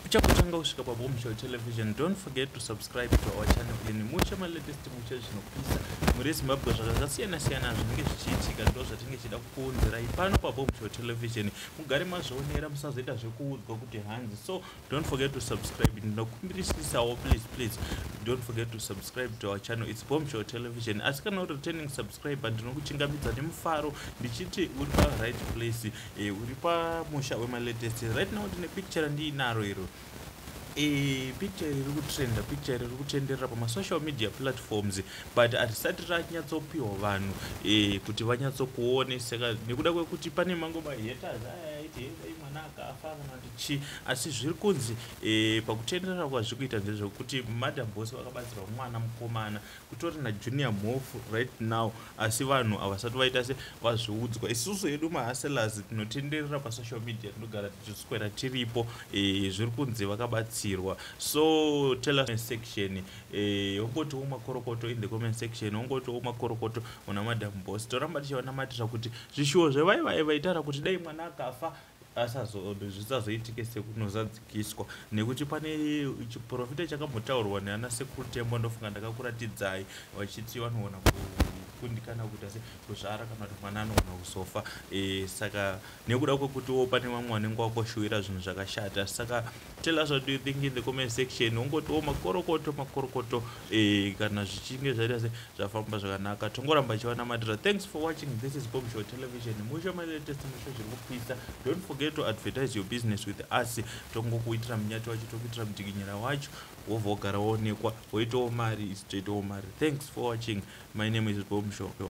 uchakutanga kusvika pabombshell television don't forget to subscribe to our channel in mucha malatest mucha zvinopisa muri zimbabwe zvakasiyana siyana zvinenge zvichiitika ndo zvatinge chida kukuunzirai pano pabombshell television mugare mazvionera musazoita zvekuudzwa kuti hanzi so don't forget to subscribe ndinokumbirisisawo please please don't forget to subscribe to our channel its bombshell television asi kana uri returning subscriber ndinokuchingamidza nemufaro ndichiti uri pa right place e, uri pamusha wemalatest right now ndine picture randiinaro iro e, picture riri kutrenda picture riri kutenderera pamasocial media platforms but hatisati ranyatsopiwa vanhu e, kuti vanyatsokuone saka nekuda kwekuti pane mango mahaters aya aiti hei mwana akafa kana kuti chii asi zviri kunzi e, pakutenderera kwazviri kuita ndezvekuti madam bose vakabatsirwa mwana mukomana kutori na junior mhofu right now asi vanhu havasati vaita se vazviudzwa isusu hedu mahaselas tinotenderera pasocial media tinogara tichiswera tiripo e, zviri kunzi vakabatsirwa so tell us section e, ongotiwo makorokoto in the comment section ongotiwo makorokoto una madam bos toramba tichiwanamatira kuti zvishuwo zvevaivai vaitara kuti dai mwana akafa zvisazoitike sekunozadzikiswa nekuti pane chiprofita chakambotaurwa neana sekuru tembo ndofunga ndakakuratidzai vachiti vanoona kundikana kuita se kuzvara kana kuti mwana anogona kuzofa e, saka nekuda kwekutiwo pane vamwe vanenge wakoshuwira zvinhu zvakashata saka tell us what do you think in the comment section ungotiwo makorokoto makorokoto eh, kana zvichinge zvaita se zvafamba zvakanaka tongoramba ichivanamatira thanks for watching this is bombshow television musha malatest musha zviri kupisa don't forget to advertise your business with us tongokuitira munyati wacho tokuitira mudikinyira wacho wobva wogara woonekwa woitawo mari ichitoitawo mari thanks for watching my name is bombshow